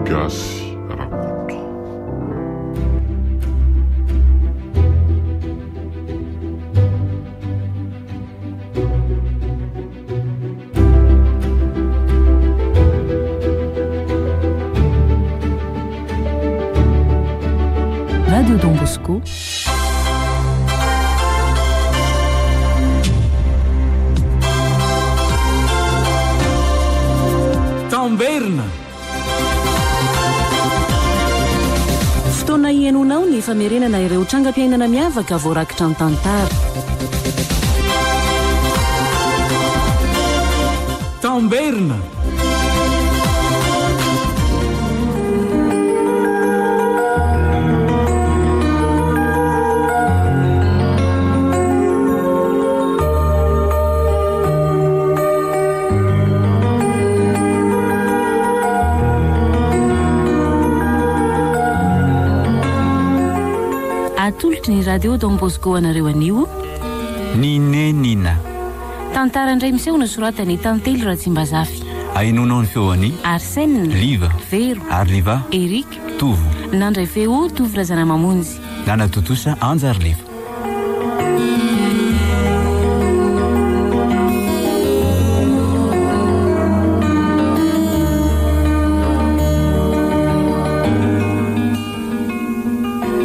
Gasy Rakoto. Radio Don Bosco. Tamberina. Fotoana ihainoanao ny famerenana ireo trangam-piainana miavaka voarakitra an-tantara. Tamberina. Atolotry ny Radio Don Bosco anareo anio, Ny nenina. Tantara indray miseho nosoratan'i i Tantely Ratsimbazafy. Ainoanao ny feo an'i. Arsène. Liva. Vero. Ary Liva. Eric. Tovo. Nandray feo Tovo Razanamamonjy. Nanatontosa Anja ary Liva.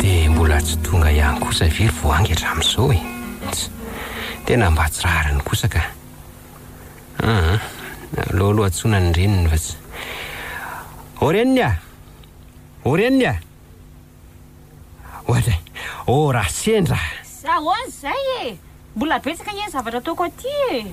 Dia mbola tsy tonga ihany kosa ve ry voangy hatramin'izao e? Tena mba tsy rariny kosa ka. Ah, aleo aloha antsoina ny reniny fa tsy. O reniny ah! O reniny ah! Ohatra, o raha sendra! Ahoana izay e! Mbola betsaka anie ny zavatra ataoko aty e!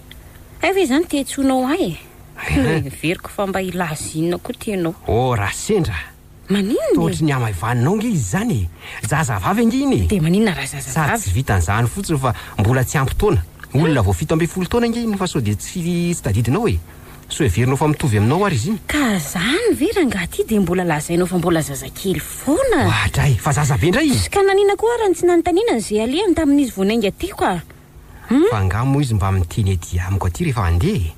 Hay ve izany te hitsonao ahy e? Noheveriko fa mba hilaza inona koa tianao. Ô raha sendra a! Maninona e? Tohotry ny hamaivaninao ange izy izany e! Zazavavy ange iny e! Dia maninona raha zazavavy? Sady tsy vitan'izany fotsiny fa mbola tsy ampy taona. Olona vao fito ambin'ny folo taona ange iny fa sao dia tsy tsy tadidinao e! Sao heverinao fa mitovy aminao ary izy iny? Ka izany ve rangaha ity dia mbola lazainao fa mbola zazakely foana? Oadray! Fa zaza be indray izy? Ka naninona koa ary no tsy nanontaniana an'izay alehany tamin'izy vao niainga tiko a! Fa angaha moa izy mba miteny aty amiko aty rehefa handeha e?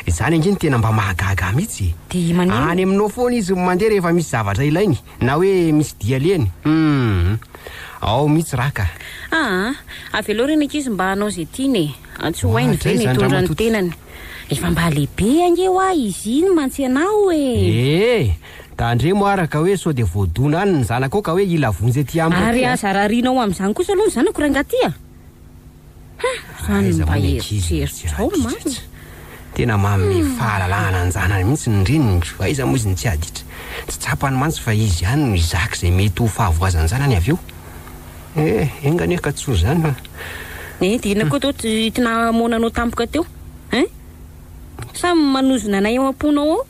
Izany ange no tena mba mahagaga ahy mihitsy e! Dia maninona? Any aminao foana izy no mandeha rehefa misy zavatra ilainy na hoe misy dia alehany. Humm. Ao mihitsy raha ka. Aa! Avelao ry ny ankizy mba hanao izay tiany e! Tsy ho hainy ve ny hitondra ny tenany? Efa mba lehibe ange hoa izy iny mantsy ianao e! Ee! Tandremo ara ka hoe sao dia voadona any ny zanakao ka hoe hila vonjy aty amiko aty a! Ary aza rarianao amin'izany kosa aloha ny zanako rangahy ty a! Raha ny mba eritreritro ao marina. Tena manome fahalalahana an-janany mihitsy ny reniny, aiza moa izy no tsy aditra. Tsy tsapany mantsy fa izy ihany no hizaka izay mety ho fahavoazan'ny zanany avy eo. Eh, enga anie ka tsoa izany fa. Eh, dia inona koa toa ity nahamoana anao tampoka teo eh? Sa manozona anay ao am-ponao ao?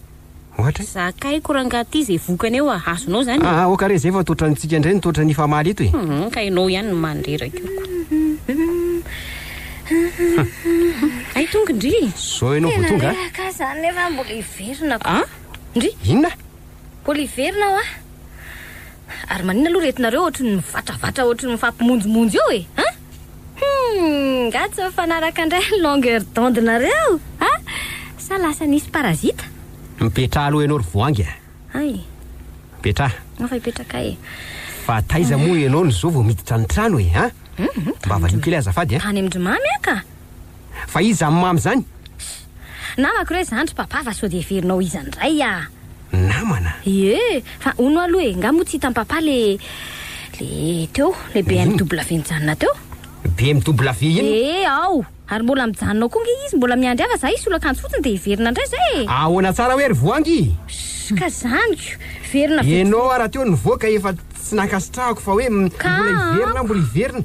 Ohatra e? Zakaiko rangah ty ze vokany eo a! Azonao zany e! Aoka re zay fa to otrany tsika ndray no to otrany hifamaly eto e! Humm ka enao ihany no mandreraka io ko! Humm hay tonga ndry e! Zao enao vo tonga a! Tena reraka aza zany nefa mbola hiverina ko! An! Ndry! Inona? Mbola hiverina aho a! Ary manina aloha retinareo ohatry ny mivatravatra ohatry ny mifampimonjomonjo eo e! An! Humm! Nga tsy mifanaraka ndray ny longueur d'onde nareo a! Sa lasa nisy parasite? Mipetraha aloha ianao ry voangy a! Hay! Mipetraha! Anao fa hipetraka e! Fa taiza moa ianao no zao vao miditra ny trano e a! Mba valio kely azafady a! Tany amin-dry mamy aho ka! Fa iza amin'ny mamy izany? Namako re zandry papa fa sao dia heverinao iza ndray ah. Namana? Ie, fa hono aloha e, nga moa tsy hitan'i papa le le teo, le BMW nijanona teo? BMW inona? Ee ao, ary mbola mijanona ao koa nge izy, mbola miandry ahy fa za hisolo akanjo fotsiny dia hiverina ndray zay e! Ahoana tsara hoe ry voangy? Ss, ka zany ko, hiverina vitsivitsy. Ianao ary rahateo nivoaka efa tsy nankasitrahako fa hoe mbola hiverina aho, mbola hiverina.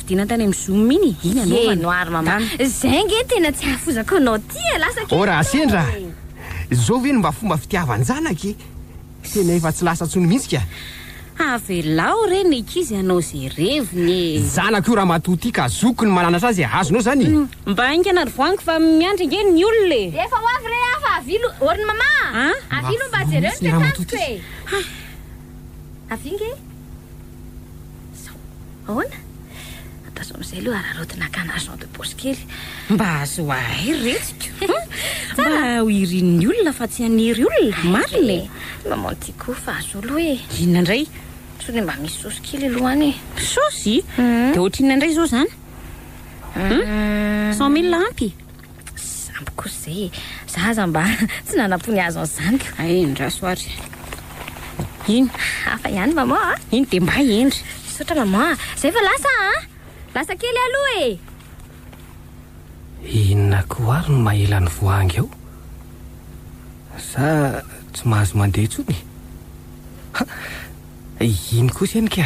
Vidiana tany amin'ny zoom iny, iny anaovana. Ye noir mama. Done. Zay nge tena tsy ahafozako anao ty e, lasa kely Oh raha teo sendra e. Zao ve no mba fomba fitiavan-janaka e? Tena efa tsy lasa tsony mintsy ka. Avelao re ny ankizy hanao ze reviny e. Zanako io ramatoa ty ka zokiko ny mananatra azy e, azonao zany e. Mba haingana ry voangy fa miandry ange ny olona e. Efa ho avy re aho fa avia lo, orn mama a! An? Avia lo mba jereo ny toetr'androko e. Hay. Avia nge. Sao, ahoana? Ataovy amin'izay aloha araraotina akana argent de poche kely. Mba azo ahay ry retsiko. Mba ho irin'ny olona fa tsy haniry olona, marina e. Maman Tiko fa azo aloha e. Inona indray? Sao dia mba misy saosy kely aloha any e. Saosy? Dia ohatrinona indray izao izany? Cent mille ampy? Tsy ampy kosa zay e. Za aza mba tsy nanapony azo an'izany ka. Hay endraso ary. Iny. Hafa ihany maman a. Iny dia mba hendry. Misaotra maman a. Zay fa lasa a. Lasa kely aho aloha e. Inona koa ary no maela ny voahangy ao? Za tsy mahazo mandeha intsony e. Ha! Iny kosa eny ka.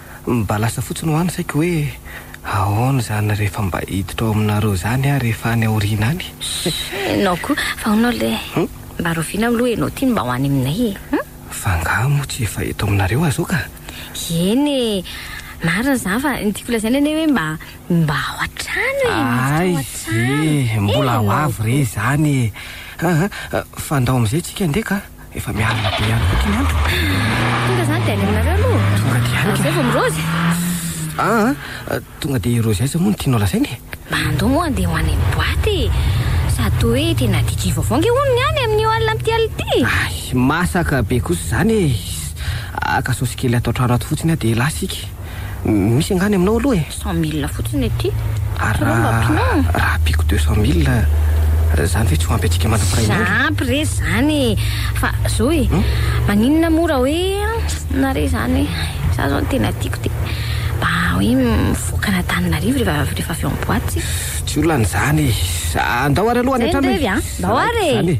Mba lasa fotsiny hoa ny saiko hoe ahoana izany rehefa mba hiditra ao aminareo izany aho rehefa any aoriana any. Enao koa, fa hono le mba rovina aloha enao ty ny mba ho any aminay e! Hum? Fa angaha moa tsy efa eto aminareo aho zao ka? Eny e! Marina izany fa ny tiako lazaina anie hoe mba, mba ao an-trano e! Miditra ao an-trano! Ay e! Mbola ho avy re izany e! Aa fa ndao amin'izay tsika ndeha ka! Efa mialona be ihany koa ity ny andro. Tonga izany dia any aminareo aloha. Tonga dia any ka. Izay vao mirozy. Ah, ah, tonga dia hirozy aiza moa no tianao lazaina e? Mba andao moa andeha ho any amin'ny boîte e. Sady toa hoe tena DJ vaovao ange hono ny any amin'io alina amin'ity alina ity. Ay, masaka be kosa izany e. Haka saosy kely ato an-trano ato fotsiny aho dia lasa ika. Misy angah ny aminao aloha e! Cent mille fotsiny ity. Ary raha mba ampiana e! Raha ampiako deux cent mille, izany ve tsy ho ampy antsika mandrapiray ny andro? Ampy re izany e! Fa zo e! Maninona moa raha hoe na re izany hoe za izao ny tena tiako dia mba hoe mivoaka any Antananarivo rehefa avy ao am-boaty tsika. Tsy olana izany e! Andao ary aloha any an-trano e! Izay ny revy an! Andao ary e!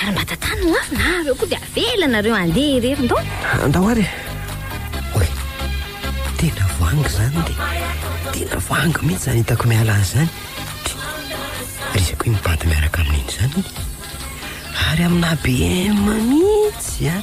Ary mba tantano ny afo na avy eo koa dia avela nareo handeha irery ndao. Andao ary e. Oy, tena vangy izany dia tena vangy mihitsy izany hitako miala azy izany. Ry izay koa mipady miaraka amin'iny izany. Ary amina BM mihitsy an.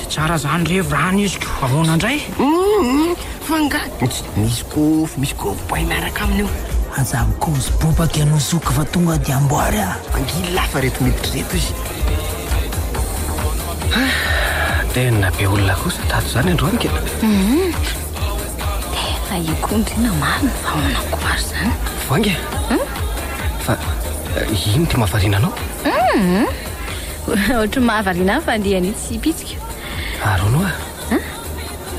Dia tsara zany re vrany iziko, ahoana ndray? Humm fa nga misy kofy misy gorbay miaraka aminy io? Aza mikozy bobaka ianao zoky fa tonga dia amboary a! Angily lafa reto miditra reto izy. Hah! Tena be olona kosa tato izany androany ka e! Humm! Efa io koa ndry na marina fa manamboary izany. Voainga e! Fa ino ty mahavariana anao? Humm! Ohatry ny mahavariana ahy fa andiany io tsy pitsiko. Arono ah.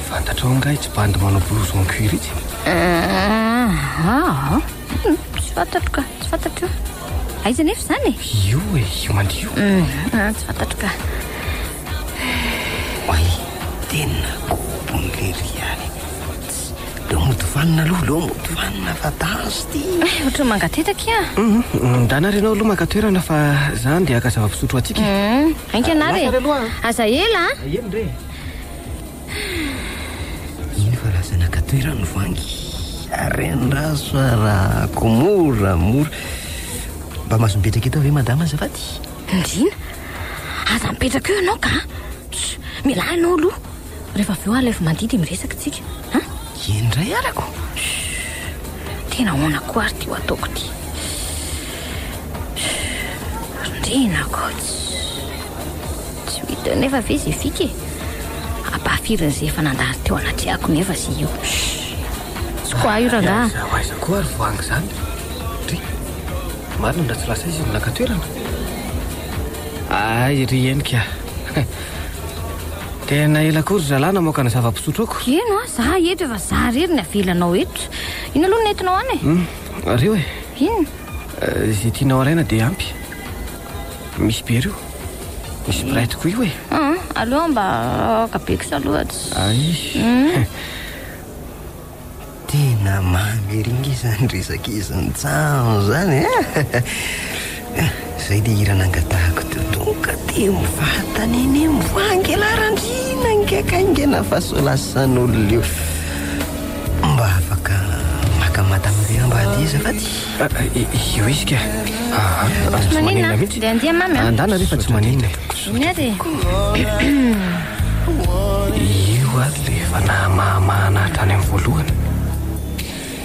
Fantatrao angaha itsy bandy manao blouse en cuir itsy? Ah, ah, tsy fantatro ka, tsy fantatro io. Aiza nefa izany e? Io e, io mandry io. Ah, tsy fantatro ka. Oay, tena kobon'lery ihany. Leo mody vanona aloha, leo mody vanona fa danzy ty. Eh, ohatran'ny mangatetaka iha. Mhm, Ndana ary ianao aloha maka toerana fa za andeha haka zava-pisotro ho antsika. Mhm, Ainga na re. Aza ela a. Eny re. Iny fa lasa naka toerana ny vangy. Rendrazo fa rako mora mora. Mba mahazo mipetraka eto ve madama azafady? Ndriana, aza mipetraka eo ianao ka. Tss, Mialà ianao aloha. Rehefa avy eo alaivo mandidy i miresaka tsika a. Eny indray arako. Tena ahoana koa ary ty ho ataoko ty. Rindrina ko. Tsy mety eo nefa ve ze fika e. Ampahafirin'ny ze efa nandalo teo anatrehako nefa ze io. Tsy ko ahy rangaha. Aiza aiza koa ary voangy zany. Ry. Marina ndra tsy lasa izy no naka toerana. Ay ry henoko a. Tena ela koa ry zalahy namoaka ny zava-pisotroako. Eno a, za eto efa za rery ny avelanao eto. Ino aloha no nentinao any e? Hmm, rio e. Ino? Eh, izay tianao alaina dia ampy. Misy be rio. Misy bright koa io e. Ah, aleo mba aoka be kosa aloha. Ay. Hmm. Tena mamy ery nge izany resak'izy Njaho izany e! Izay dia hira nangatahako teo tonga dia mivantana eny Amboangy Laranjina nge ka aingana fa sao lasan'olona io. Mba afaka maka mata amin'ireo ambady azafady. Io izy ka. Tsy maninona, dia andia mamy an. Andana re fa tsy maninona. Iny aza e! Io ato dia efa nahamahamahana hatrany amin'ny voalohany.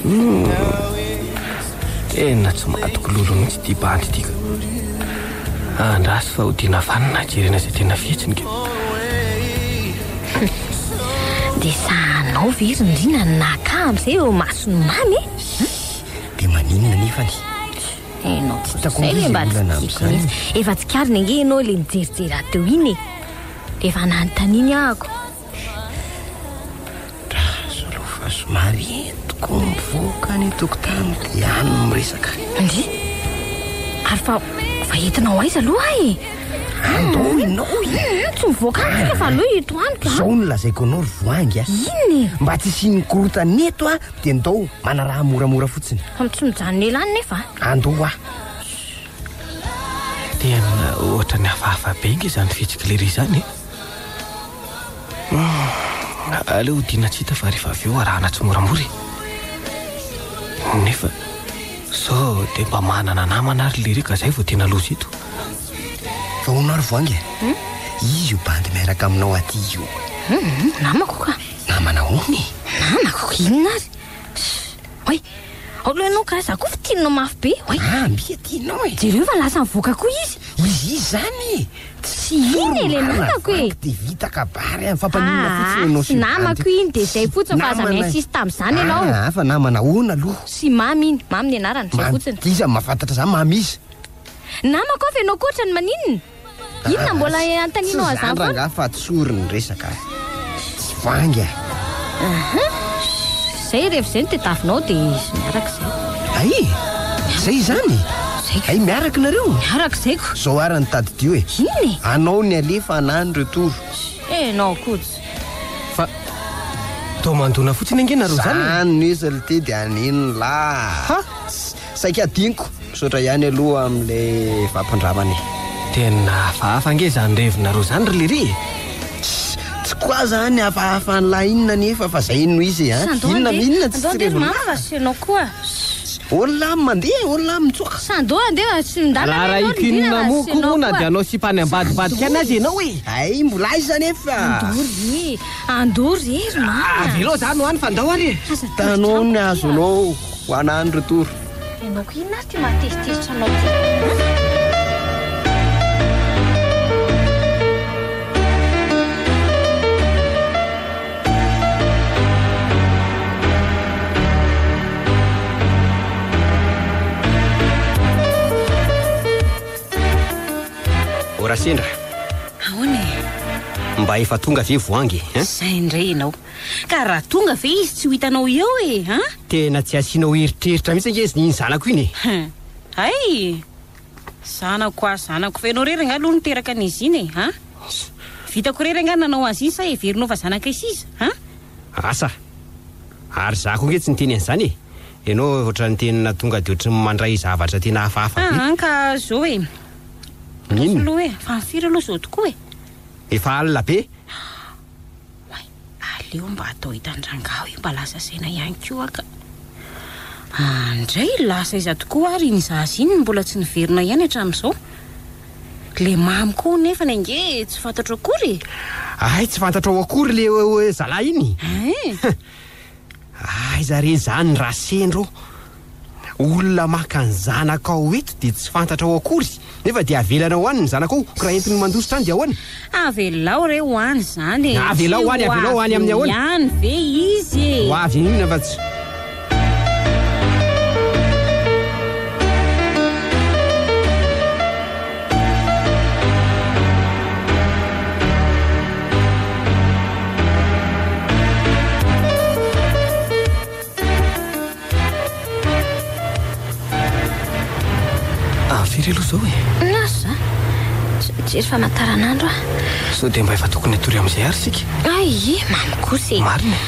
Humm! Tena tsy matokololo mihitsy ity bandy ity ka! Andraso fa ho tiana vanona hajerena izay tena fihetsiny ka! Humm! Dia sahanao ve ry Ndry na ny naka amin'izay eo imason'i Mamy e! Dia maninona anefany? Enao tsy Hitako tozay ve mba misy olana tsy tiako amin'izany. mihitsy. Efa tsikariny ange ianao ilay nijerijery ahy teo iny e. Dia efa nanontaniany aho ko. Dra solo fa somary entiko mivoaka any an-tokotany dia any no miresaka. Ndry. Ary fa fa entinao aiza aloha ahy e. Andao ianao e. Hum, tsy mivoaka any tsika fa aleo eto amiko a. Izao no lazaiko anao ry voahangy a. Inona e? Mba tsy hisian'ny korontana eto a. dia ndao manaraha moramora fotsiny. Fa tsy mijanona ela any nefa. Andoha. Tena ohatra ny hafahafa be nge izany fitsiky lery izany eh. Hmm, aleo hodiana tsy hita fa rehefa avy eo arahana tsy moramora eh. Nefa sao dia mba manana namana ary lery ka izay vao tena loza eto. Vao narvo ange. Hmm? Izy io bandy miaraka aminao aty io. Hmm, namako ka. Namana hono e. Namako? Inona ary? Oay, aolo ianao ka, za koa fintinina mafy be. Oay. Ah, mbia tianao e. Jereo fa lasa nivoaka koa izy. Izy izy zany e. Tsy iny e le namako e. Dia vita kabary any, fampaninona fotsiny ianao sy ny vadiny. Namako iny dia izay fotsiny fa aza mi-insiste tamin'izany ianao. Ah, ah, fa namana ahoana aloha? Sy Mamy iny, Mamy ny anarany, izay fotsiny. Iza no mahafantatra zany, Mamy iza? Namako aho fa ianao koa ohatrany maninona? Inona mbola hanontanianao ahy zany foana? Tsy zany rangaha fa tsory ny resaka a. Tsy vangy a. Aha. Zay rehefa zay no tediavinao dia izy miaraka izay. Hay e! Zay izany? Zay. Hay miaraka nareo? Miaraka izay ko. Zao ara no tadidio e. Inona e? Anao ny alefa anah ny retour. Enao kots. Fa toa mandona fotsiny ange nareo zany e. Zany no izy ry Tedy an'inona? Ha? Saika adinoko. Misaotra ihany aloha amin'ilay fampindramana e. Tena hafahafa ange zany revinareo zany ry lery e! Tsy quoi zany hafahafa an'la inona anefa fa zay no izy a! Inona am inona tsy tsy revinao? Andao ande tsy enao koa! Olona am mandeha e! Olona am mitsoaka! Sandoo ande tsy ndana Raha raha ity nona moa koa moa na dia anao sipa any ambadibadika any aza enao e! Hay mbola aiza anefa! Andoo re! Andoo re ry mama! Avelao za no any fa ndao ary e! Tanao ny azonao! Ho ana any ry Toro. Ianao ko inona ary ity mahatezitezitra anao ity an? Ora sendra. Ahoana e? Mba efa tonga ve voangy e? Izay indray ianao. Ka raha tonga ve izy tsy ho hitanao eo e an! Tena tsy asianao eritreritra mihitsy ange izy iny zanako iny e! Hay! Zanako hoa zanako fa ianao irery angaha aloha niteraka an'izy iny e an! Vitako irery angaha ny nanao azy iny sa heverinao fa zanakay sisa an! Asa! Ary za koa ange tsy niteny an'izany e! Ianao ohatran'ny tena tonga dia ohatran'ny mandray zavatra tena hafahafa be! Aa ka zao e! Inona? Fa ny firy aloha zao tokoa e! Efa alina be! Oay, aleo mba atao hitan-dRangahy hoe mba lasa saina ihany koa ka. An, indray lasa aiza tokoa ary iny zaza iny no mbola tsy niverina ihany hatramin'izao? Ilay Mamy koa nefany ange tsy fantatro akory e! Ay, tsy fantatrao akory ilay hoe zalahy iny? Ein! Aiza re zany ra sendra ô? Olona maka ny zanakao eto dia tsy fantatrao akory nefa dia avelanao any ny zanakao ko raha entiny mandositra any dia ahoana? Avelao re ho any zany e! Avelao any, avelao any amin'ny ahoana? Tsy ho avy eo ihany ve izy e! Ho avy eo inona fa tsy. Firy aloha izao e? Na za. Jery famantaranandro ah. Sao dia mba efa tokony hatory amin'izay ary sika. Ay, mamy kosa e. Marina.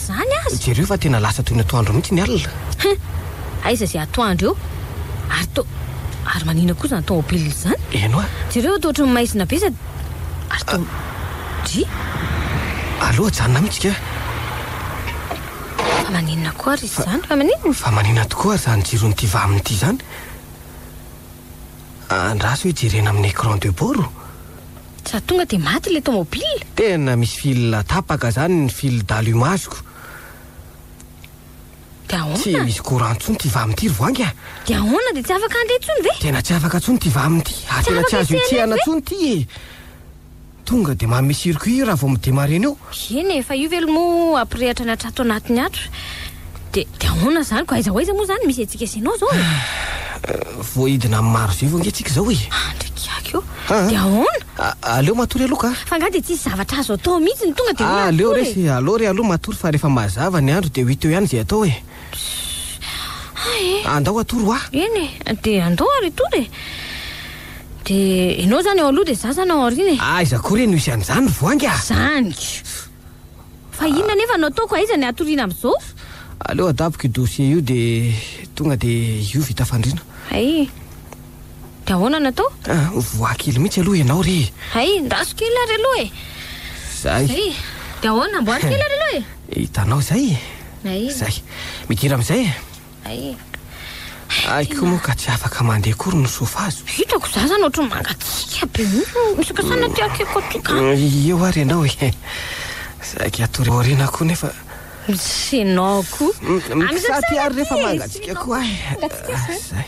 Izany aza! Jereo fa tena lasa toy ny atoandro mihitsy ny alina. Hum! Aiza izay atoandro eo? Ary to, ary maninona koa izany tomobile izany? Eny hoa! Jereo fa toa ohatry ny maizina be sady ary to, dry! Aleo ajanona mihitsy kah! Fa maninona koa ary izy izany? Fa maninona? Fa maninona tokoa ary izany jiron'ity vaminy ity izany? Andraso hoe jerena amin'ny écran de bord? Za tonga de maty le tomobile. Tena misy fil tapaka zany ny fil dalo imasoko. De ahoana? Tsy misy courant ntsony ty vam ty ry voangy a. De ahoana de tsy afaka handeha ntsony ve? Tena tsy afaka ntsony ty vam ty ary tena tsy azo itsehana ntsony ty e. Tonga de manome circuit raha vao mi-demarrer-ny eo. Eny e, fa io ve lo moa hampirehatra ny atrato anatiny ato? Dia dia ahoana izany? Koa aiza ho aiza moa izany misy antsika sy ianao izao e? Voaidina amin'ny marozivo ange tsika izao e! Ah, ndry kiaky ô! Ah. Dia ahoana? A- Aleo matory aloha ka! Fa angaha dia tsisy zavatra azo atao mihitsy ny tonga dia hoe Ah, aleo matory e? resy, aleo re aloha matory fa rehefa mazava ny andro dia ho hita eo ihany izay atao e! Ah e! Andao hatory hoa! Eny e, dia andao ary hitory e! Dia ianao izany ao aloha dia izaho izany ao aoriana e! Aiza koa re no hisy an'izany ry voangy a! Izany! Fa inona anefa no ataoko? Aiza ny hatoriana amin'izao? Aleo adaboko io dossier io dia tonga dia io vita fandriana. Hay! Dia ahoana no atao? Ah, mivoaha kely mihitsy aloha ianao re e! Hay! Ndaso kely ary aloha e! Izay! Hay! Dia ahoana? Amboary kely ary aloha e! Hitanao izay? Hay! Izay! Midira amin'izay e! Ay e. Ay koa moa ka tsy afaka mandeha kory ny sofazo. Hitako za zany ohatry mangatsiaka be mihitsy. Misaoka sana aty akiko aty ka. Eo ary ianao e. Saiky hatory aoriana koa nefa. Misy ianao koa. Misaty ary rehefa mangatsiaka koa ahy. Mangatsiaka zany. Zay.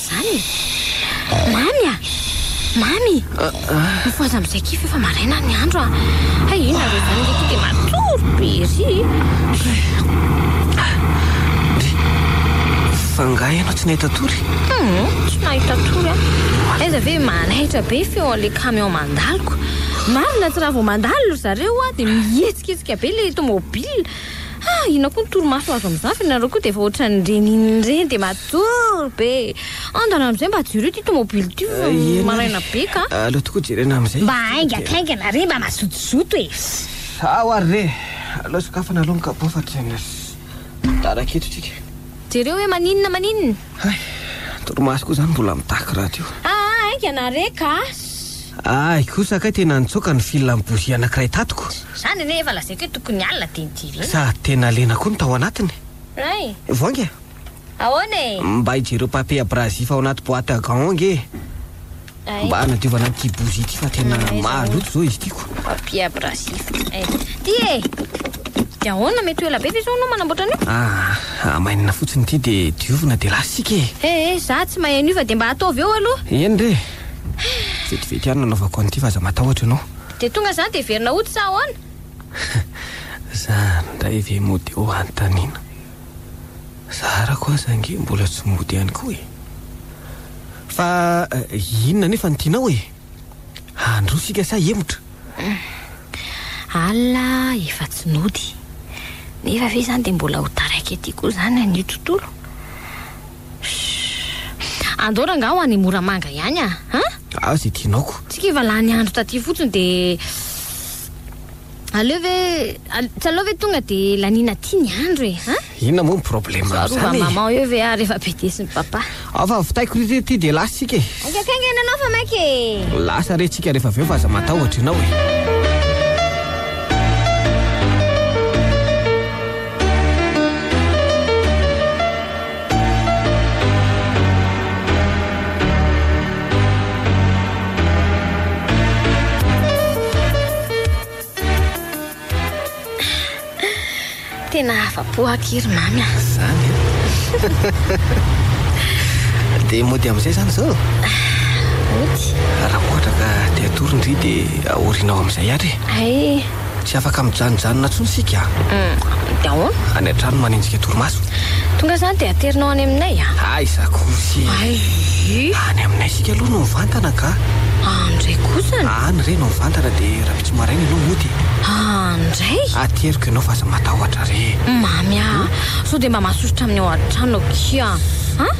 mihitsy izany e! Mamy a! Mamy! Mifohaza amin'izay kify efa maraina ny andro a! Hay inona re izany ilay ity dia matory be ery e! Fa angaha ianao tsy nahita tory? Tsy nahita tory aho. Aiza ve manaitra be feon'ilay camion mandalo ko! Mamy na tsy raha vao mandalo ry zareo dia mihetsiketsiaka be ilay tomobile. Ha! Inona koa ny torimaso azo amin'izany fa ianareo koa dia efa ohatran'ny renin'ny reny dia matory be. Andana amin'izay mba jereo ity tomobily ity fa maraina be ka. Aleo tokoa jerena amin'izay. Mba haingankaingana re, mba mazotozoto e. Sao ary re. Aleo sokafana aloha ny kapao fa tena sy tara aketo isika. Jereo hoe maninona maninona. Hay! Torimaso koa izany mbola mitaky radio io. Aa haingana re ka! Ahy kosa kay tena nitsoaka ny fil an'i Bozia anankiray tatiko. Tsy izany anie efa lazaiko hoe tokony alina dia nidirina. Sady tena lena koa ny tao anatiny. Hay! Voainga e! Ahoana e! Mba hijereo papier abrasif ao anaty boite à gants ao ange e! Mba nadiovana an'ity bozy ity fa tena maloto zao izy tiako. Papier abrasif. Eh, ty e! Dia ahoana mety ho ela be ve izao anao manamboatra an'io? Ah, amainina fotsiny ity dia diovina dia lasa isika e. Eh, eh, za tsy mahay an'io fa dia mba ataovy eo aloha. Eny re. Vetivety ihany nanaovako an'ity fa aza matahotra ianao. Dia tonga izany dia heverina hody sa ahoana? Za ndray ve mody eo hanontaniana. Zaharako aza ange mbola tsy mody ihany koa e. Fa inona anefa ny tianao e? Handroa isika sa hemotra? Alina efa tsy nody. Nefa ve izany dia mbola ho taraiky aty koa izany an'io tontolo? Andao rangaha ho any Moramanga ihany a! Aza ity naoko. Tsy kivy lany andro taty fotsiny dia. Aleo ve al- tsy aleo ve tonga de laniana aty ny andro e a Inona moa ny problème Fa rova amin'izany e? maman eo ve ary efa be desin'i papa Ao fa vitaiko ry ity dia lasa isika e. Aika kainga iananao fa maika e Lasa re tsika rehefa avy eo fa aza matahotra ianao e. Tena afa-po aky ry mamy ah. Zany eh. Dia mody amin'izay zany izao? Mody. Raha ohatra ka te hatory ny ry dia aorinao amin'izay ary. Ay. Tsy afaka mijanojanona intsony isika Hum, dia ahoana? Any an-trano manenjika torimaso. Tonga izany dia aterinao any aminay a! Aiza kosy e! Ayy! Any aminay isika aloha no mivantana ka! Any indray kosa an! Any re no mivantana dia rahampitso maraina ianao mody e! Any indray? Ateriko ianao fa aza matahotra re e! Mamy a! Sao dia mba mahasosotra amin'ny ao an-trano akia an!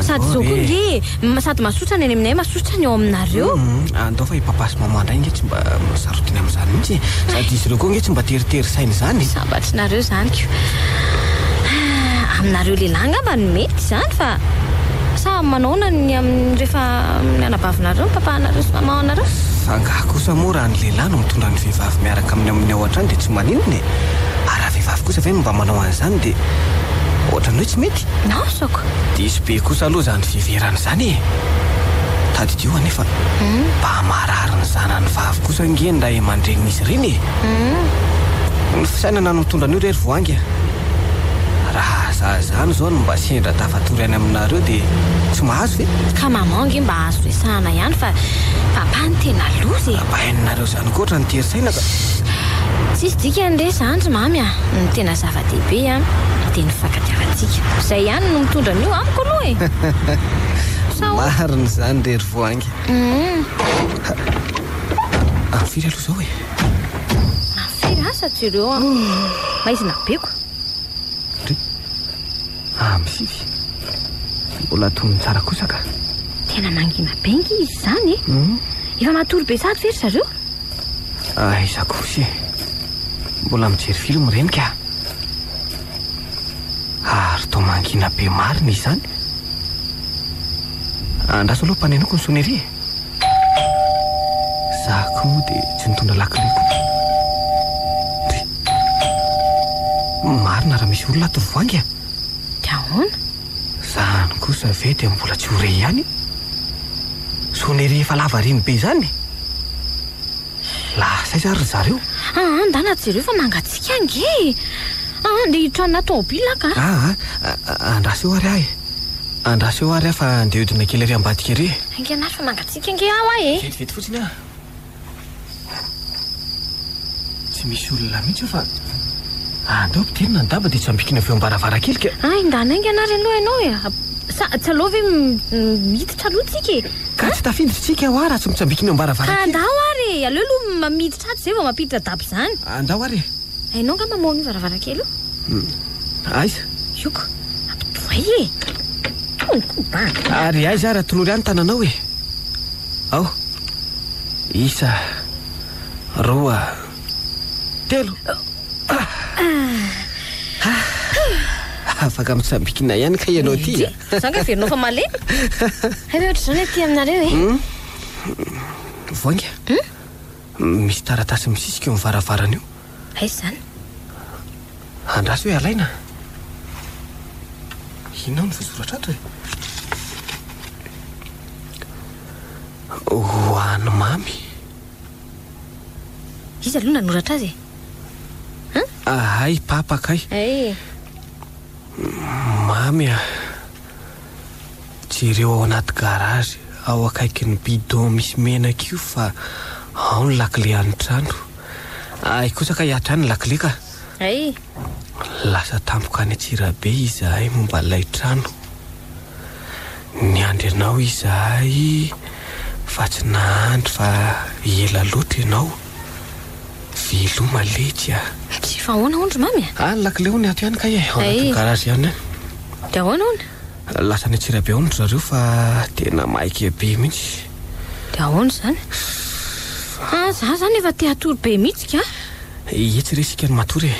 Sady izao koa nge e! Sady masosa ny any aminay, masosa ny ao aminareo. Hum, andao fa i papa sy maman indray nge tsy mba sarotiny amin'izany mihitsy e. Sady izy ireo koa nge tsy mba teritery saina izany e. Sambatrinareo izany ko. Ah, aminareo lehilahy angamba no mety izany fa sa manaona ny amin'ny rehefa amin'ny anabavinareo ny papanareo sy mamanareo? Sa angaha kosa moa raha ny lehilahy no mitondra ny vehivavy miaraka aminy amin'ny ao an-trano dia tsy maninona e? Ary raha vehivavy kosa ve no mba manao an'izany dia ohatran'ny hoe tsy mety? Nahasoako! Diso be kosa aloha izany fiheverana izany e! Tadidio anefa, mba marary ny zanany vavy kosa ange ny ray aman-drenin'izy ireny e! Ny fisainana no mitondra an'io re ry Voahangy a! Raha za izany izao no mba sendra tafatory any aminareo dia tsy mahazo ve? Ka maman ange mba azo resahana ihany fa papa no tena loza e! Ampahainonareo izany koa ohatran'ny tery saina ka! Tsisy dikany re izany ry mamy a! Ny tena zava-dehibe a, dia ny fankatoavana. Fitiavantsika. Izay ihany no mitondra an'io amiko aloha e! Sao? Marina izany re ry Voahangy. Any firy aloha izao e? Any firy asa tsy ireo an? Maizina be ko. Ry Amy Fify, mbola atonony tsara kosa ka. Tena mangina be ange izy izany e! Hmm? Efa matory be sahady ve ry zareo? Aiza kosa e? Mbola mijery film ireny ka. Ary toa mangina be marina izany. Andraso aloha panenoko ny sonnerie e. Za koa dia tsy nitondra lakile koa. Ndry. Marina raha misy olona ato ry Voangy a. Dia ahoana? Zany kosa ve dia mbola tsy ho re ihany? Sonnerie efa lavareny be izany e. Lasa aiza ary ry zareo? Aa, ndana jereo fa mangatsiaka ange e! Aa, ndeha hiditranona tômôbila aho ka! Aa, andraso eo ary aho e! Andraso eo ary aho fa ndeha hodina kely ary ambadika ery e! Haingana ary fa mangatsiaka ange aho aho e! Vetivety fotsiny aho! Tsy misy olona mihitsy eo fa andao ampidirina ny daba dia tsy ambikina avy eo am-baravarankely ka! Hay, ndana haingana ary aloha ianao e! Sa tsy aleo ve miditra? Taloha tsika e! Ka tsy tafiditra tsika hoa raha tsy mitsambikina eo am-baravarankely. Ka andao ary e! Aleo aloha miditra ato izay vao mampiditra daba izany. Andao ary e! Hainao nga mamaoha an'io varavarankely io? Hum. Aiza? Io ko! Ampitohay e! Tony ko banga! Ary aiza ary atolory ahy ny tananao e! Ao! Isa! Roa! Telo! Ah! Ah! Afaka mitsambikina ihany kay ianao ity a! Za nga heverinao fa malemy? Hay ve ohatr'izao ny aty aminareo e? Hum. Voainga. Hum. Misy taratasy misisika eo amin'ny varavarana io. Aiza izany? Andraso hoe alaina. Inona no voasoratra ato e? Ho an'i Mamy. Iza aloha nanoratra azy e? Ahay, Papa kay. Ay. Mamy a! Jereo ao anaty garage ao akaikin'ny bidon misy menaka io fa ao ny lakile an'ny trano. Hay kosa ka hiatra any ny lakile ka! Hay! Lasa tampoka any Antsirabe izahay momba ilay trano. Niandry anao izahay fa tsy nahandry fa ela loatra ianao. Veloma letsy a! Tsy efa ahoana hono ry Mamy a! Any lakile hono ato ihany kay e, ao anatin'ny garage ihany any. Dia ahoana hono? Lasa any Antsirabe hono ry zareo fa tena maika be mihitsy. Dia ahoana izany? Fa izaho izany efa te-hatory be mihitsy ka! Etsy re isika no matory e!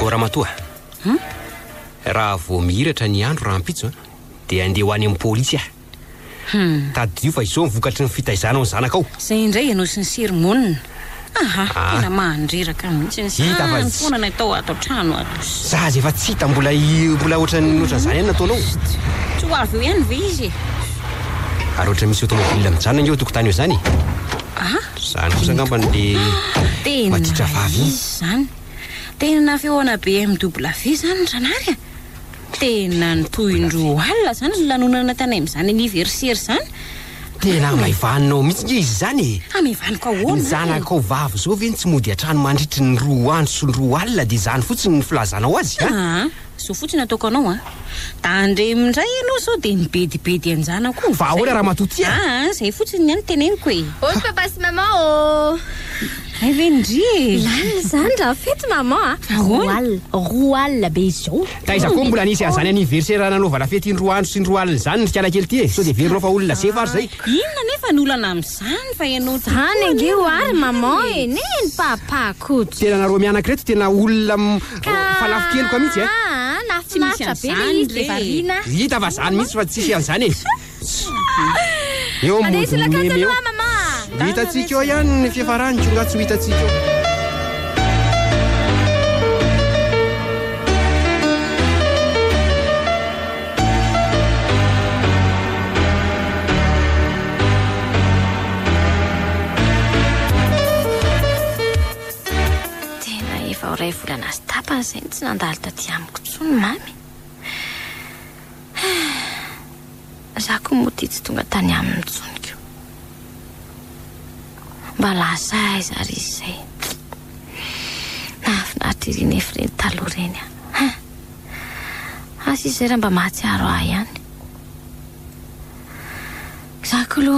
O Ramatoa, raha vao mihiratra ny andro rahampitso dia handeha ho any amin'ny polisy aho. Tadidio fa izao ny vokatry ny fitaizanao ny zanakao. Izay indray ianao sy ny sery monina. Aha, tena mandreraka mihitsy ny sahany foana ny atao ato an-trano ato. Za aza efa tsy hita mbola mbola ohatran'ny ohatran'izany ihany no ataonao. Tsy ho avy eo ihany ve izy e? Ary ohatra misy automobile mijanona ange eo an-tokotany eo izany e! Aha, Zany kosa angambany le maditra vavy iny. Izy zany. Tena feona BMWV zany Ranary a. Tena ny tohindroa alina zany ny lanonana tany amin'izany anniversaire zany. Tena hamaivaninao mihitsy nge izy zany e. Hamaivaniko ahoana? Ny zanakao vavy zao ve no tsy mody an-trano mandritry ny roa andro sy ny roa alina de zany fotsiny ny filazanao azy a? Zo fotsiny ataoko anao an. Tandremo indray ianao sao dia mibedibedy an-janako. Fa ahoana ramatoa ty an? Aa izay fotsiny ny ahy no teneniko e. Ôs papa sy maman ô. Hay ve ndry e. Lalina izany raha fety maman a. Ahoana? Roa alina be izao. Taiza koa mbola nisy an'izany anniversaire nanaovana fety indroa andro sy indroa alina izany ry kialakely ty e. Sao dia verinao fa olona zefa ary izay. Inona anefa ny olana amin'izany fa ianao tokoa anefa. Izany ange ho'a ry maman e. Neny papa koto. Tena nareo mianaka ireto tena olona. Ka fa lafo keloka mihitsy e! Aa nahafinaritra be le izy dia variana. Hita fa zany mihitsy fa tsisy an'zany e! Eo amin'ny Mandeha monjy meme eo. aloha mama a! Ho hitantsika eo ihany ny fiafarany ko nga tsy ho hitantsika eo. Tena efa ho iray volana sy tapany izay no tsy nandalo taty amiko intsony Mamy. Za ko moa ity tsy tonga tany aminy intsony ko. Mba lasa aiza ary izy izay. Nahafinaritra ery nefy ireny taloha ireny a. Asa izy izay raha mba mahatsiaro ahy ihany. Za ko lo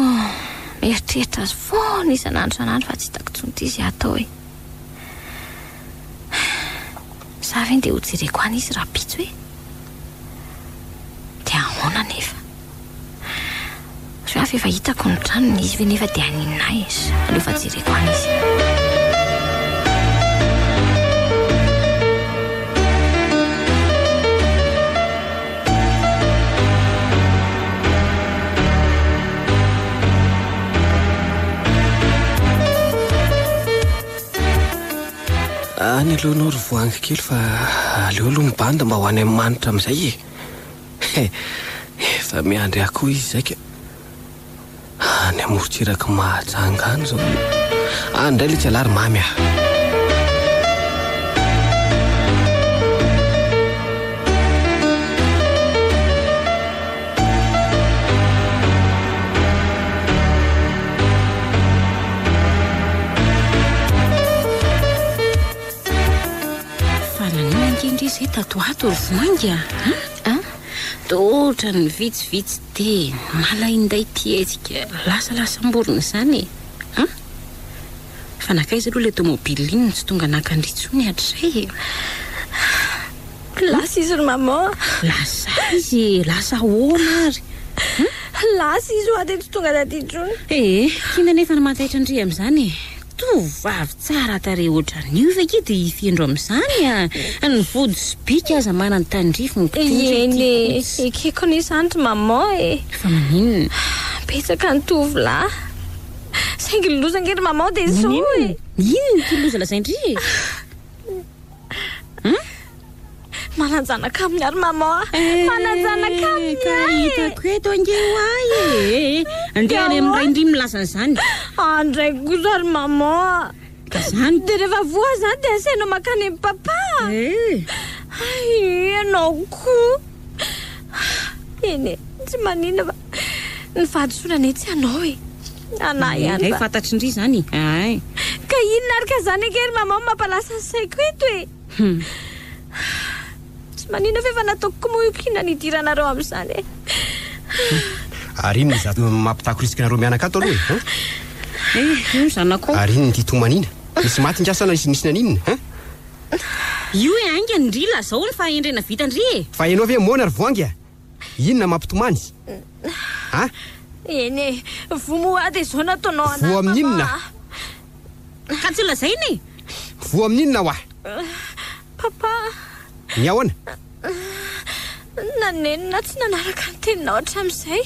mieritreritra azy foana isan'andro isan'andro fa tsy hitako tsony ty ze atao e. Za ve nde ho jereko any izy rapitso e? De ahona nefa? Reo avy efa hitako ny tranony izy ve nefa de aninona ahy es? Aleo fa jereko any izy e. Any aloha ianao ry voangy kely fa aleo aloha mibandy mba ho any amin'ny manitra amin'izay e. Efa miandry ahy koa izy izay ka. Any amoron-tsirak'i Mahajanga any izao. Any indray ilay tsialahy ry Mamy ah. Fa naninona ange indry izay tato ho ato ry vinainga a? Dotra ny vitsivitsy teny, malainday ity hetsika lasalasam-borona izany e! An! Fa nankaiza aloha ilay tomobile iny no tsy tonga naka an-dry intsony hatrizay e! An! Lasa izy ry maman a! Lasa izy e! Lasa ahoana ary? An! Lasa izy hoa dia tsy tonga taty intsony! Ee, kiana anefa ny mantaitra an-dry amin'izany e! Tovovavy tsara tarehy ohatran'io ve kay dia hifindro amin'izany a! Ny vody sy bika aza manan-tandrify ny mpitondra ity Eny e, coach. ekeko anie izany ry maman e! Fa maninona? Betsaka ny tovolahy. Saingy ny loza ange ry maman dia izao e! Maninona? Inona ity loza lazain-dry e? Manan-janaka aminy ary maman ah. Eh, Manan-janaka aminy eh, ka hitako eto ange ho ahy e. Eh, andeha any amin'ny ray ndry milaza an'izany. Ah, ndray kosa ry maman ah. Ka zany. Dia rehefa voa zany dia asainao makany amin'ny papa. Eh. Ay, ianao koa. Eny e, tsy maninona fa ny fahadisoana anie tsy anao e. Anah ihany Engay va? fantatry ndry zany e! Ain! Ka inona ary ka zany ange ry maman mampalasa ny saiko eto e! Hum! Tsy manina f'efa nataoko kmoiko inona ny idiranareo amin'izany e! Ary inona izato mampitakorisika anareo mianaka ato aloha e! Hein? Eh! Io ny zanakao! Ary inona ity tomanina? Nisy maty nga sa na nisy naninona? Hein? Io e! Ainga ndry lazao ny fahendrena vita ndry e! Fa ianao ve moana ry voangy a! Inona mampitomany? A? Eny e, voa moa ady izao nataonao anahy Voa amin'ny inona? Papa. Ka tsy lazaina e! Voa amin'ny inona wa? Papa, Ny ahoana? naneno na tsy nanaraka ny teninao hatramin'izay.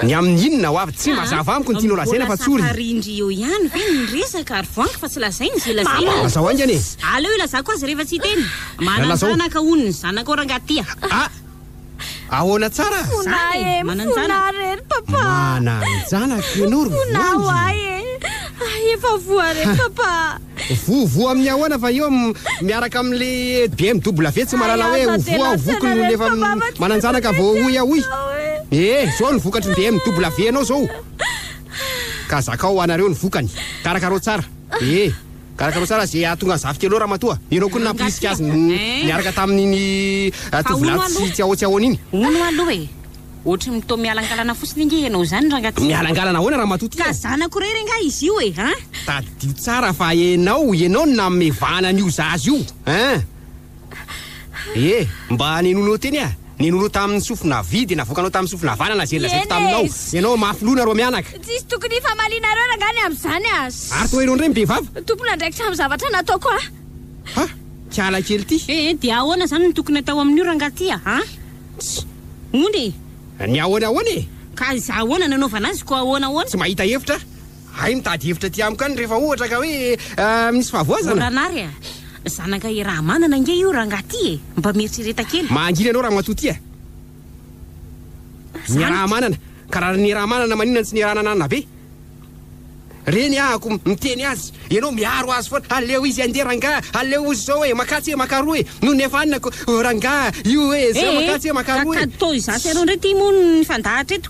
Ny amin'ny inona wa? Tsy Ka, mazava amiko ny tianao lazaina mbola fa tsorina. samparindry eo ihany ve ny resaka ary voangy fa tsy lazaina izay lazaina? Lazao haingana e! Aleo ilazako azy rehefa tsy hiteny. Manan-janaka hono ny zanakao rangahy ty a! A! Ahoana tsara? Fona e, fona re ry papa. Manan-janaka ianao ry Vonjy. Fona ho ahy e. Hay efa voa re papa. Voa voa amin'ny ahoana fa eo miaraka amin'le BMW tsy mahalala hoe ho voa ho voky no efa manan-janaka vao hoy aho hoy. Ee, izao ny vokatry ny BMW anao izao. Ka zakao anareo ny vokany. Karakarao tsara. Ee. Karakarao tsara ze ahatonga ny zafika aloha Ramatoa. Ianao koa no nampirisika azy niaraka tamin'iny tovolahy tsy tsy ahoa tsy ahoana iny. Hono aloha e! Ohatry ny toa mialangalana fotsiny ange ianao izany rangaty. Mialangalana ahoana Ramatoa ty a! Ka zanako irery angaha izy io e an! Tadidio tsara fa ianao, ianao no nanome vahana an'io zaza io an! Ee, mba nenoinao teny a! Nenoinao tamin'ny sofina havia dia navoakanao tamin'ny sofina havanana izay nolazaiko taminao. Ianao mafy loha nareo mianaka. Tsisy tokony hifamalianareo rangah ny amin'izany aza. Ary toa ianao indray mibevava. Tompon'andraikitra amin'ny zavatra nataoko aho. Ha! Kiala kely ity. Ee, dia ahoana izany no tokony atao amin'io rangah ity a! Ha! Tsy. Moa ny. Ny ahoana ahoana e! Ka izah ahoana nanaovana azy koa ahoana ahoana? Tsy mahita hevitra aho. Hay mitady hevitra aty amiko any rehefa ohatra ka hoe misy fahavoazana. Oranary a! Zanaka i Rahamanana ange io rangaha ty e! Mba mieritrereta kely. Mangina ianao Ramatoa ty a! Ny Rahamanana ka raha ny Rahamanana maninona no tsy niaraha-nananabe? Reny aho ko miteny azy, ianao miaro azy foana, aleo izy handeha rangaha, aleo ozy izao e, makatsy e, maka aroa e, nony efa anona ko rangah io e, zao makatsy e, maka aroa e. Ka kado tao izato ianao indray ty moa ny fandahatra eto.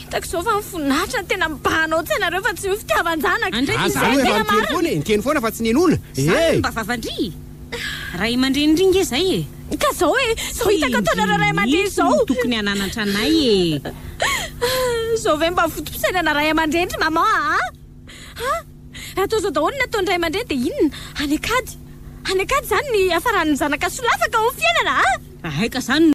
Hitako izao fa mifonatra ny tena mibahana ao an-tsainareo fa tsy ny fitiavan-janaka. Andray Aza aloha efa niteny foana e, niteny foana fa tsy ninoana. Izany no mba vavandria? Ray aman-dreny indry nge izay e! Ka izao e, izao hitako ataonareo ray aman-dreny izao. Tsy indrisy no tokony hananatra anay e! Izao ve mba vontom-pisainana ray aman-dreny ry maman a! Ha? Raha izao daholo ny ataon'ny ray aman-dreny dia inona? Any an-kady? Any an-kady izany ny hiafaran'ny zanaka solafaka ao amin'ny fiainana a! Raha hay ka izany no.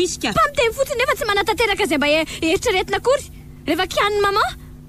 Fa miteny fotsiny nefa tsy manatanteraka izay mba eritreretina akory rehefa kianin'i maman.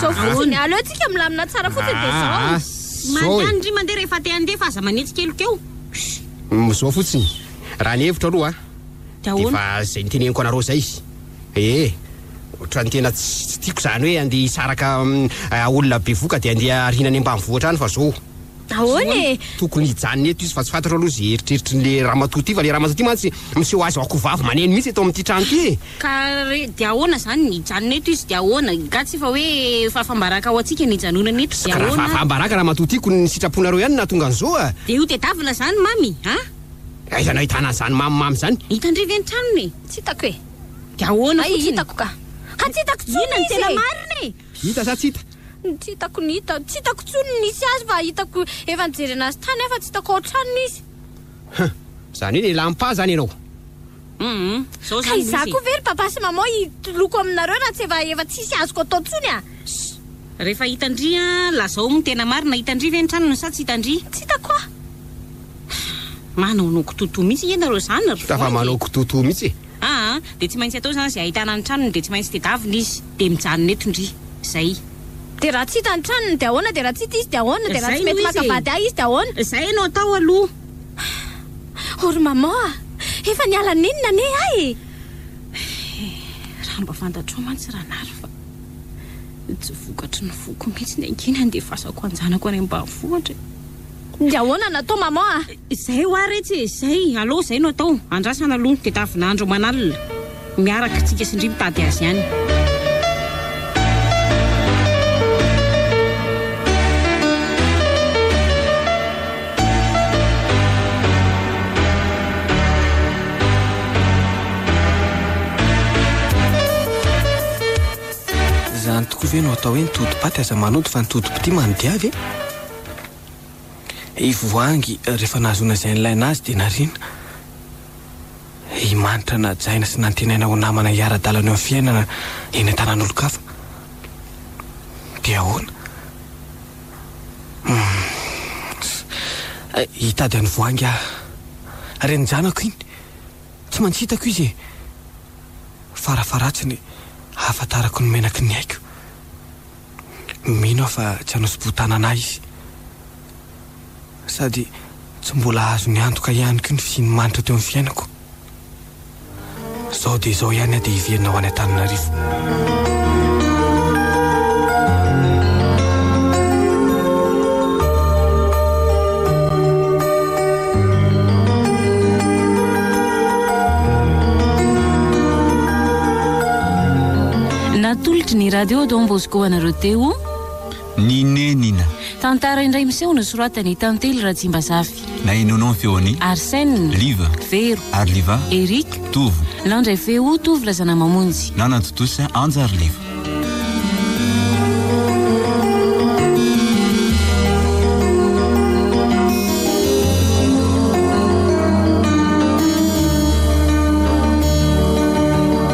Zao fotsiny, aleo tsika milamina tsara fotsiny dia zao. Ah, zao e. Mandry mandeha rehefa te handeha fa aza manetsy keloka eo. Humm, zao fotsiny, raha ny hevitro aloha a, Dia dia ahoana? efa izay niteneniko anareo izay izy. Ee, ohatran'ny tena tsy tsy tiako izany hoe handeha hisaraka am, ah, olona bevoka dia handeha arina any ambanivohitra any fa zao. Ahoana e? Tokony hijanona eto izy fa tsy fantatro aloha izay eritreritry ny le ramatoa ty fa le ramatoa ty mantsy miseho azy ho akohovavy maneno mihitsy eto amin'ity trano ty e! Ka re dia ahoana izany ny hijanona eto izy dia ahoana? Nga tsy efa hoe fahafahambaraka ho antsika ny hijanonana eto dia ahoana ary? Raha fahafahambaraka ramatoa ty ko ny sitraponareo ihany no nahatonga an'izao a! Dia io tedavina izany mamy a! Aiza nahitana an'izany mamimamy izany? Hitan-dry ve ny tranony e? Tsy hitako e! Dia ahoana fotsiny? Hay hitako ka! Ka tsy hitako intsony izy e! Inona no tena marina e? Hita sa tsy hita? Ny tsy hitako ny hita. Tsy hitako intsony ny nisy azy fa hitako efa nijery anazy tany aho fa tsy hitako ao an-tranony izy. Huh! Izany hoe nilampà izany ianao? Hum! Izao izany misy e! Ka izaho koa ve ry Papa sy Maman hitoloko aminareo raha tsy efa efa tsisy azoko atao intsony a! Shh! Rehefa hitan-dry an! Lazao ny tena marina, hitan-dry ve ny tranony sa tsy hitan-dry? Tsy hitako aho! Manaonao kitotoa mihitsy nge ianareo izany ry Voangy e! Tafa manao kitotoa mihitsy e! Aa dia tsy maintsy atao izany izay ahitana ny tranony dia tsy maintsy tedavina izy dia mijanona eto ndry zay. Dia raha tsy hita ny tranony dia ahoana dia raha tsy hita izy dia ahoana dia raha tsy mety maka vady ahy izy dia ahoana. Izay no atao aloha. Oh ry maman ah! Efa niala nini nane ahy e! Eh! Raha mba fantatrao mantsy Ranary fa tsy vokatry ny foko mihitsy ny ankiany handefasako anjanako any ambanivohitra e! Dia ahoana no atao maman a? Izay hoa re tsy izay, alou izay no atao, andrasana aloha dia tavinandro aman'alina miaraka tsika sy ndry mitady azy any. Izany tokoa ve no atao hoe ny tody paty aza manody fa ny tody pti manodiavy e? I Voahangy rehefa nahazoana izay nilaina azy dia nariana. I Manitra najaina sy nantenaina ho namana hiara-dalana eo amin'ny fiainana eny an-tanàn'olon-kafa. Dia ahoana? Humm. Hitady an'i Voahangy aho. Renin-janako iny. Tsy maintsy hitako izy e. Farafaharatsiny ahafantarako ny menaky ny aiko. Mino aho fa tsy hanao sobotanana ahy izy. Sady tsy mbola azony antoka ihany koa ny fisian'ny manitra teo amin'ny fiainako. Izao dia izao ihany aho dia hiverina ho any Antananarivo. Natolotry ny Radio Don Bosco anareo teo. Ny nenina. Tantara indray miseho nosoratan'i Tantely Ratsimbazafy. Nahenoanao ny feon'i. Arsène. Liva. Vero. Ary Liva. Eric. Tovo. Nandray feo Tovo Razanamamonjy. Nanantontosa Anja ary Liva.